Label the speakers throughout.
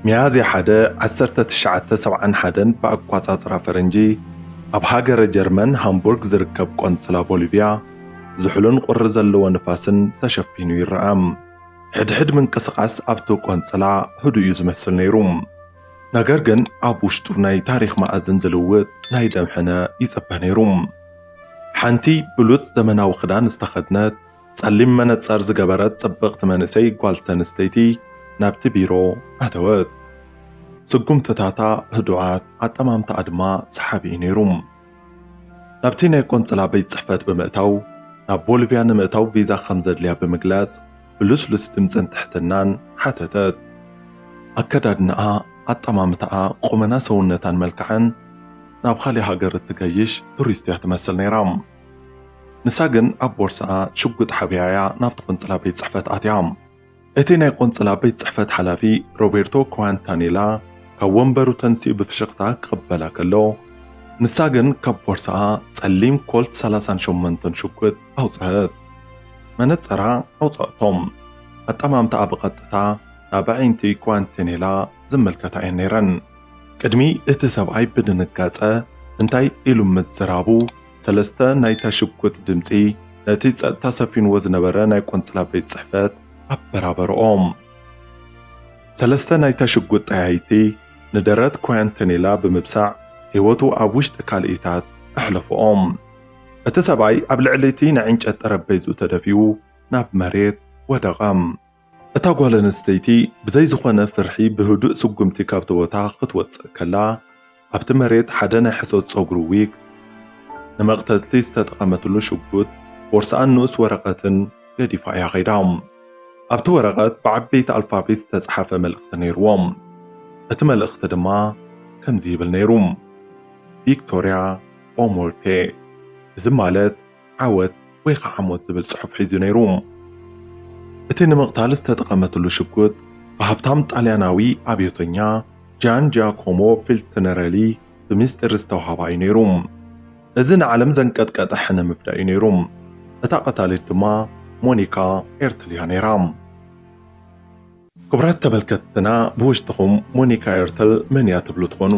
Speaker 1: ሚያዝያ ሓደ ዓሰርተ ትሽዓተ ሰብዓን ሓደን ብኣቋጻጽራ ፈረንጂ ኣብ ሃገረ ጀርመን ሃምቡርግ ዝርከብ ቆንስላ ቦሊቭያ ዝሑልን ቁሪ ዘለዎ ንፋስን ተሸፊኑ ይረኣ። ሕድሕድ ምንቅስቓስ ኣብቲ ቆንስላ ህዱእ እዩ ዝመስል ነይሩ። ነገር ግን ኣብ ውሽጡ ናይ ታሪኽ መኣዝን ዝልውጥ ናይ ደም ሕነ ይጽበ ነይሩ። ሓንቲ ብሉጽ ዘመናዊ ክዳን ዝተኸድነት ጸሊም መነጸር ዝገበረት ጽብቕቲ መንእሰይ ጓል ተንስተይቲ ናብቲ ቢሮ ኣተወት። ስጉምትታታ ህዱኣት፣ ኣጠማምታኣ ድማ ሰሓቢ'ዩ ነይሩ። ናብቲ ናይ ቆንጽላ ቤት ጽሕፈት ብምእታው፣ ናብ ቦልቪያ ንምእታው ቪዛ ከም ዘድልያ ብምግላጽ ብልስሉስ ድምጽን ትሕትናን ሓተተት። ኣከዳድናኣ፣ ኣጠማምታኣ፣ ቁመና ሰውነታን መልክዓን ናብ ኻልእ ሃገር እትገይሽ ቱሪስት'ያ ትመስል ነይራ። ንሳ ግን ኣብ ቦርስኣ ሽጉጥ ሓቢኣ እያ ናብቲ ቆንጽላ ቤት ጽሕፈት ኣትያ። እቲ ናይ ቆንጽላ ቤት ጽሕፈት ሓላፊ ሮቤርቶ ክዋንታኔላ ካብ ወንበሩ ተንሲኡ ብፍሽኽታ ክቕበላ ከሎ፣ ንሳ ግን ካብ ቦርስኣ ጸሊም ኮልት ሰላሳን ሸሞንተን ሽጉጥ ኣውጽኣት። መነጸራ ኣውጽኣቶም። ኣጠማምታኣ ብቐጥታ ናብ ኣዒንቲ ክዋንቴኔላ ዝምልከታ እየን ነይረን። ቅድሚ እቲ ሰብኣይ ብድንጋጸ እንታይ ኢሉ ምዝራቡ፣ ሰለስተ ናይታ ሽጉጥ ድምጺ ነቲ ጸጥታ ሰፊንዎ ዝነበረ ናይ ቆንጽላ ቤት ጽሕፈት ኣበራበርኦም። ሰለስተ ናይታ ሽጉጥ ጠያይቲ ንደረት ኲያንተኔላ ብምብሳዕ ህይወቱ ኣብ ውሽጢ ካልኢታት ኣሕለፍኦም። እቲ ሰብኣይ ኣብ ልዕሊ እቲ ናይ ዕንጨት ጠረጴዝኡ ተደፊኡ ናብ መሬት ወደቐ። እታ ጓል ኣንስተይቲ ብዘይ ዝኾነ ፍርሒ ብህዱእ ስጉምቲ ካብቲ ቦታ ክትወጽእ ከላ፣ ኣብቲ መሬት ሓደ ናይ ሕሶት ጸጉሪ ዊግ፣ ንመቕተልቲ ዝተጠቐመትሉ ሽጉጥ፣ ቦርስኣን ንኡስ ወረቐትን ገዲፋ እያ ከይዳ። ኣብቲ ወረቐት ብዓበይቲ ኣልፋቤት ዝተጻሕፈ መልእኽቲ ነይርዎ። እቲ መልእኽቲ ድማ ከምዚ ይብል ነይሩ፣ ቪክቶርያ ኦሞርቴ፣ እዚ ማለት፣ ዓወት ወይ ኸዓ ሞት ዝብል ጽሑፍ ሒዙ ነይሩ። እቲ ንምቕታል ዝተጠቐመትሉ ሽጉጥ ብሃብታም ጣልያናዊ ኣብዮተኛ ጃን ጂያኮሞ ፊልትነረሊ ብሚስጢር ዝተውሃባ እዩ ነይሩ። እዚ ንዓለም ዘንቀጥቀጠ ሕነ ምፍዳይ እዩ ነይሩ። እታ ቀታሊት ድማ ሞኒካ ኤርትልያ ነይራ። ክቡራት ተመልከትትና ብውሽጥኹም ሞኒካ ኤርተል መን እያ ትብሉ ትኾኑ።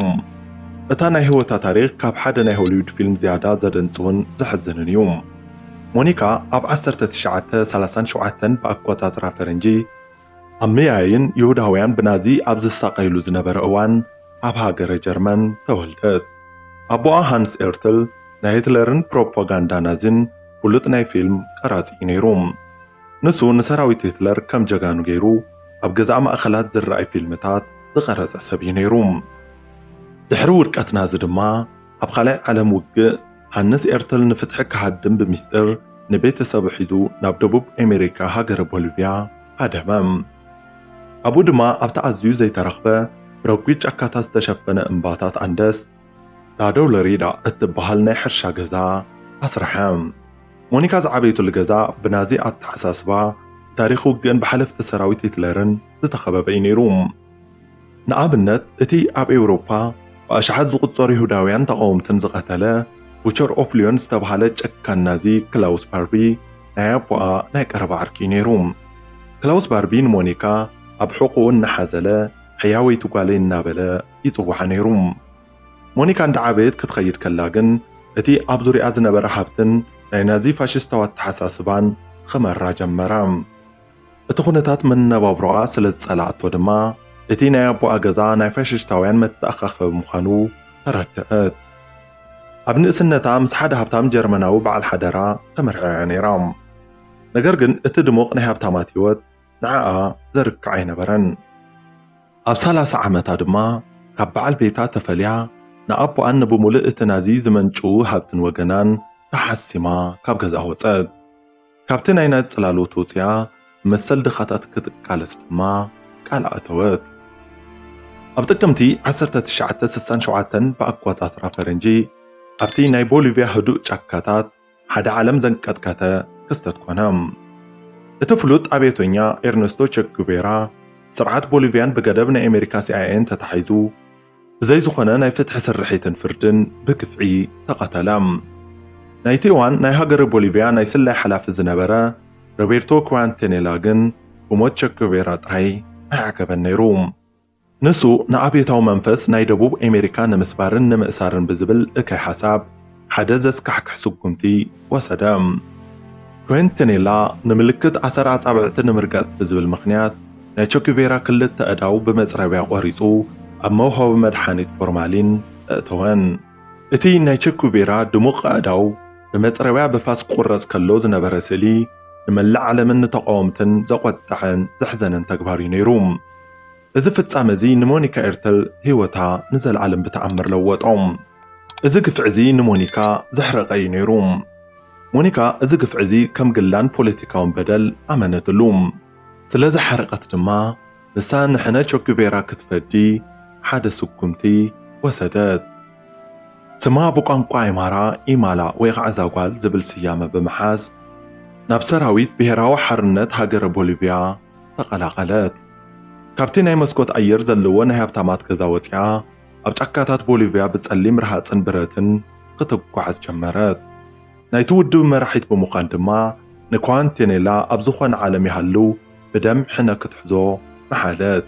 Speaker 1: እታ ናይ ህይወታ ታሪኽ ካብ ሓደ ናይ ሆሊውድ ፊልም ዝያዳ ዘደንጽውን ዘሕዝንን እዩ። ሞኒካ ኣብ ዓሰርተ ትሽዓተ ሰላሳን ሸውዓተን ብኣቆጻጽራ ፈረንጂ ኣብ ምያይን ይሁዳውያን ብናዚ ኣብ ዝሳቐይሉ ዝነበረ እዋን ኣብ ሃገረ ጀርመን ተወልደት። ኣቦኣ ሃንስ ኤርትል ናይ ሂትለርን ፕሮፓጋንዳ ናዚን ፍሉጥ ናይ ፊልም ቀራጺ እዩ ነይሩ። ንሱ ንሰራዊት ሂትለር ከም ጀጋኑ ገይሩ ኣብ ገዛእ ማእከላት ዝርኣይ ፊልምታት ዝቐረጸ ሰብ እዩ ነይሩ። ድሕሪ ውድቀት ናዚ ድማ ኣብ ካልኣይ ዓለም ውግእ ሃንስ ኤርትል ንፍትሒ ክሃድም ብሚስጢር ንቤተሰቡ ሒዙ ናብ ደቡብ ኤመሪካ ሃገረ ቦልቪያ ሃደመ። ኣብኡ ድማ ኣብቲ ኣዝዩ ዘይተረኽበ ብረጒድ ጫካታት ዝተሸፈነ እምባታት ኣንደስ፣ ዳደው ለሪዳ እትበሃል ናይ ሕርሻ ገዛ ኣስርሐ። ሞኒካ ዝዓበየትሉ ገዛ ብናዚ ኣተሓሳስባ፣ ብታሪኽ ውግእን ብሓለፍቲ ሰራዊት ሂትለርን ዝተኸበበ እዩ ነይሩ። ንኣብነት፣ እቲ ኣብ ኤውሮፓ ብኣሽሓት ዝቝጸሩ ይሁዳውያን ተቓወምትን ዝቐተለ ቡቸር ኦፍ ልዮን ዝተበሃለ ጨካን ናዚ ክላውስ ባርቢ ናይ ኣቦኣ ናይ ቀረባ ዓርኪ እዩ ነይሩ። ክላውስ ባርቢ ንሞኒካ ኣብ ሕቖኡ እናሓዘለ ሕያወይቲ ጓለይ እናበለ ይጽውዓ ነይሩ። ሞኒካ እንዳ ዓበየት ክትኸይድ ከላ ግን እቲ ኣብ ዙርያኣ ዝነበረ ሃብትን ናይ ናዚ ፋሽስታዊ ኣተሓሳስባን ኽመራ ጀመረ። እቲ ኹነታት መነባብሮኣ ስለ ዝጸልኣቶ ድማ እቲ ናይ ኣቦኣ ገዛ ናይ ፋሽስታውያን መተኣኻኸቢ ምዃኑ ተረድኣት። ኣብ ንእስነታ ምስ ሓደ ሃብታም ጀርመናዊ በዓል ሓደራ ተመርዕያ ነይራ። ነገር ግን እቲ ድሙቕ ናይ ሃብታማት ህይወት ንዓኣ ዘርክዕ ኣይነበረን። ኣብ ሰላሳ ዓመታ ድማ ካብ በዓል ቤታ ተፈልያ ንኣቦኣን ንብሙልእ እቲ ናዚ ዝመንጭዉ ሃብትን ወገናን ተሓሲማ ካብ ገዝኣ ወጸት። ካብቲ ናይ ናዚ ጽላሎት ወጺኣ ንመሰል ድኻታት ክትቃለስ ድማ ቃል ኣእተወት። ኣብ ጥቅምቲ ዓሰርተ ትሽዓተ ስሳን ሸውዓተን ብኣቆጻጽራ ፈረንጂ ኣብቲ ናይ ቦሊቭያ ህዱእ ጫካታት፣ ሓደ ዓለም ዘንቀጥቀተ ክስተት ኮነ። እቲ ፍሉጥ ኣብዮተኛ ኤርነስቶ ቸጉቤራ ስርዓት ቦሊቪያን ብገደብ ናይ ኣሜሪካ ሲኣይኤን ተታሒዙ ብዘይ ዝኾነ ናይ ፍትሒ ስርሒትን ፍርድን ብግፍዒ ተቐተለ። ናይቲ እዋን ናይ ሃገረ ቦሊቪያ ናይ ስለያ ሓላፊ ዝነበረ ሮቤርቶ ኩዋንቴኔላ ግን ብሞት ቸጉቤራ ጥራይ ኣይዓገበን ነይሩ። ንሱ ንኣብዮታዊ መንፈስ ናይ ደቡብ ኤሜሪካ ንምስባርን ንምእሳርን ብዝብል እከይ ሓሳብ ሓደ ዘስካሕክሕ ስጉምቲ ወሰደ። ኩዌንተኔላ ንምልክት ኣሰር ኣጻብዕቲ ንምርጋጽ ብዝብል ምኽንያት ናይ ቸኩቬራ ክልተ ኣእዳው ብመጽረብያ ቆሪጹ ኣብ መውሃቢ መድሓኒት ፎርማሊን ኣእተወን። እቲ ናይ ቸኩቬራ ድሙቕ ኣእዳው ብመጽረብያ ብፋስ ክቑረጽ ከሎ ዝነበረ ስእሊ ንመላእ ዓለምን ንተቓወምትን ዘቖጠዐን ዘሕዘነን ተግባር'ዩ ነይሩ። እዚ ፍጻመ እዚ ንሞኒካ ኤርተል ህይወታ ንዘለኣለም ብተኣምር ለወጦ። እዚ ግፍዒ እዚ ንሞኒካ ዘሕረቐ እዩ ነይሩ። ሞኒካ እዚ ግፍዒ እዚ ከም ግላን ፖለቲካውን በደል ኣመነትሉ። ስለ ዝሓረቐት ድማ ንሳ ንሕነ ቸጉቬራ ክትፈዲ ሓደ ስጉምቲ ወሰደት። ስማ ብቋንቋ ኣይማራ ኢማላ ወይ ኸዓ እዛ ጓል ዝብል ስያመ ብምሓዝ ናብ ሰራዊት ብሄራዊ ሓርነት ሃገረ ቦሊቪያ፣ ተቐላቐለት። ካብቲ ናይ መስኮት ኣየር ዘለዎ ናይ ሃብታማት ገዛ ወጺኣ ኣብ ጫካታት ቦሊቭያ ብጸሊም ረሃጽን ብረትን ኽትጓዓዝ ጀመረት። ናይቲ ውድብ መራሒት ብምዃን ድማ ንኳንቴኔላ ኣብ ዝኾነ ዓለም ይሃሉ ብደም ሕነ ክትሕዞ መሓለት።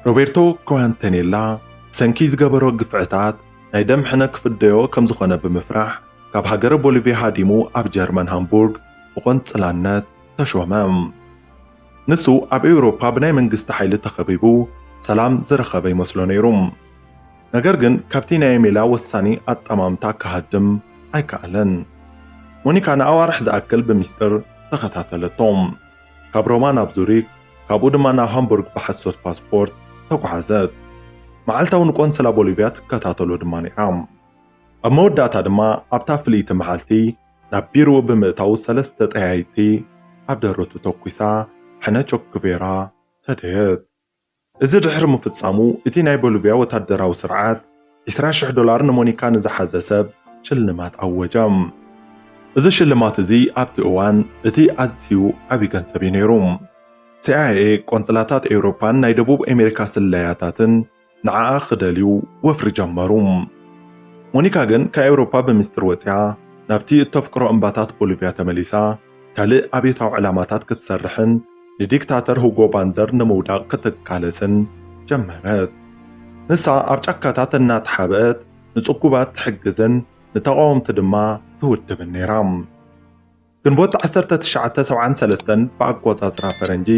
Speaker 1: ሮቤርቶ ኳንቴኔላ ብሰንኪ ዝገበሮ ግፍዕታት ናይ ደም ሕነ ክፍደዮ ከም ዝኾነ ብምፍራሕ ካብ ሃገረ ቦሊቭያ ሃዲሙ ኣብ ጀርመን ሃምቡርግ ብቖንጽላነት ተሾመ። ንሱ ኣብ ኤውሮፓ ብናይ መንግስቲ ሓይሊ ተኸቢቡ ሰላም ዝረኸበ ይመስሎ ነይሩ። ነገር ግን ካብቲ ናይ ሜላ ወሳኒ ኣጠማምታ ክሃድም ኣይከኣለን። ሞኒካ ንኣዋርሕ ዝኣክል ብሚስጥር ተኸታተለቶ። ካብ ሮማ ናብ ዙሪክ ካብኡ ድማ ናብ ሃምቡርግ ብሓሶት ፓስፖርት ተጓዓዘት። መዓልታዊ ንቆንስላ ቦሊቭያ ትከታተሎ ድማ ነይራ። ኣብ መወዳእታ ድማ ኣብታ ፍልይቲ መዓልቲ፣ ናብ ቢሮኡ ብምእታው ሰለስተ ጠያይቲ ኣብ ደረቱ ተኲሳ ሕነ ቾክቬራ ፈደየት። እዚ ድሕሪ ምፍጻሙ እቲ ናይ ቦልቪያ ወታደራዊ ስርዓት ዕስራ ሽሕ ዶላር ንሞኒካ ንዝሓዘ ሰብ ሽልማት ኣወጀ። እዚ ሽልማት እዚ ኣብቲ እዋን እቲ ኣዝዩ ዓቢ ገንዘብ እዩ ነይሩ። ሲኣይኤ፣ ቆንጽላታት ኤውሮጳን ናይ ደቡብ ኣሜሪካ ስለያታትን፣ ንዓኣ ክደልዩ ወፍሪ ጀመሩ። ሞኒካ ግን ካብ ኤውሮፓ ብምስጢር ወጺኣ ናብቲ እተፍቅሮ እምባታት ቦሊቭያ ተመሊሳ ካልእ ኣብዮታዊ ዕላማታት ክትሰርሕን ንዲክታተር ሁጎ ባንዘር ንምውዳቕ ክትቃለስን ጀመረት። ንሳ ኣብ ጫካታት እናተሓብአት ንጽጉባት ትሕግዝን ንተቓወምቲ ድማ ትውድብን ነይራ። ግንቦት ዓሰርተ ትሽዓተ ሰብዓን ሰለስተን ብኣቆጻጽራ ፈረንጂ፣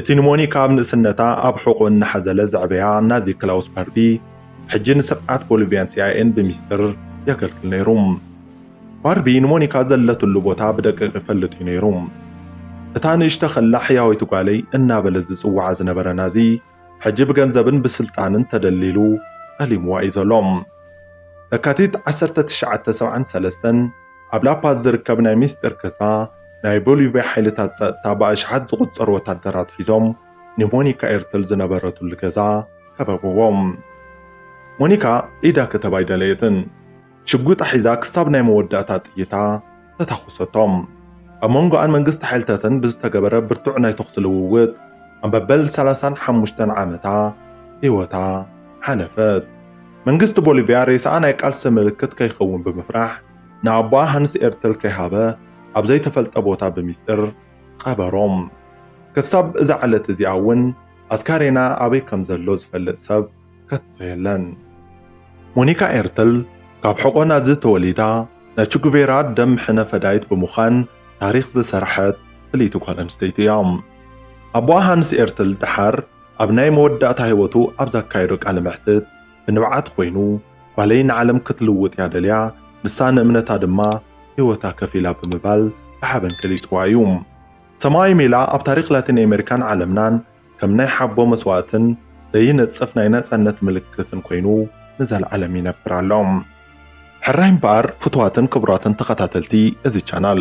Speaker 1: እቲ ንሞኒካ ኣብ ንእስነታ ኣብ ሕቖኡ እናሓዘለ ዘዕበያ ናዚ ክላውስ ባርቢ፣ ሕጂ ንስርዓት ቦሊቭያን ሲኣይኤን ብሚስጥር የገልግል ነይሩ። ባርቢ ንሞኒካ ዘለትሉ ቦታ ብደቂቕ ይፈልጥ እዩ ነይሩ። እታ ንእሽቶ ከላ ሕያወይቲ ጓለይ እናበለ ዝጽውዓ ዝነበረ ናዚ፣ ሕጂ ብገንዘብን ብስልጣንን ተደልዲሉ ጠሊምዋ እዩ ዘሎ። ለካቲት ዓሰርተ ትሽዓተ ሰብዓን ሰለስተን ኣብ ላፓዝ ዝርከብ ናይ ሚስጢር ክሳ ናይ ቦሊቭያ ሓይልታት ጸጥታ ብኣሽሓት ዝቑጸሩ ወታደራት ሒዞም ንሞኒካ ኤርትል ዝነበረትሉ ገዛ ከበብዎ። ሞኒካ ኢዳ ክትህብ ኣይደለየትን። ሽጉጣ ሒዛ ክሳብ ናይ መወዳእታ ጥይታ ተታኹሰቶም። ኣብ መንጎኣን መንግስቲ ሓይልታትን ብዝተገበረ ብርቱዕ ናይ ተኹሲ ልውውጥ ኣብ መበል ሰላሳን ሓሙሽተን ዓመታ ህይወታ ሓለፈት። መንግስቲ ቦሊቭያ ሬሳኣ ናይ ቃልሲ ምልክት ከይኸውን ብምፍራሕ ንኣቦኣ ሃንስ ኤርትል ከይሃበ ኣብ ዘይተፈልጠ ቦታ ብሚስጥር ቐበሮም። ክሳብ እዛ ዕለት እዚኣ እውን ኣስካሬና ኣበይ ከምዘሎ ዝፈልጥ ሰብ ከቶ የለን። ሞኒካ ኤርትል ካብ ሕቖ ናዚ ተወሊዳ ናይ ቹጉቬራ ደም ሕነ ፈዳይት ብምዃን ታሪኽ ዝሰረሐት ፍልይቲ ጓል ኣንስተይቲ እያ። ኣቦኣ ሃንስ ኤርትል ደሓር ኣብ ናይ መወዳእታ ህይወቱ ኣብ ዘካየዶ ቃለ መሕትት ብንብዓት ኮይኑ ጓለይ ንዓለም ክትልውጥ እያ ደልያ ንሳ ንእምነታ ድማ ህይወታ ከፊላ ብምባል ብሓበን ገሊጽዋ እዩ። ሰማኣዊ ሜላ ኣብ ታሪኽ ላቲን ኣሜሪካን ዓለምናን ከም ናይ ሓቦ መስዋእትን ዘይነጽፍ ናይ ነጻነት ምልክትን ኮይኑ ንዘልዓለም ይነብር ኣሎ። ሕራይ እምበኣር ፍቱዋትን ክቡራትን ተኸታተልቲ እዚ ቻናል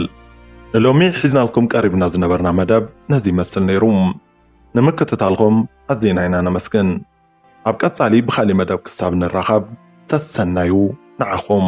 Speaker 1: ንሎሚ ሒዝናልኩም ቀሪብና ዝነበርና መደብ ነዚ ይመስል ነይሩ። ንምክትታልኩም ኣዚና ኢና ነመስግን። ኣብ ቀጻሊ ብኻልእ መደብ ክሳብ ንራኸብ ሰሰናዩ ንዓኹም።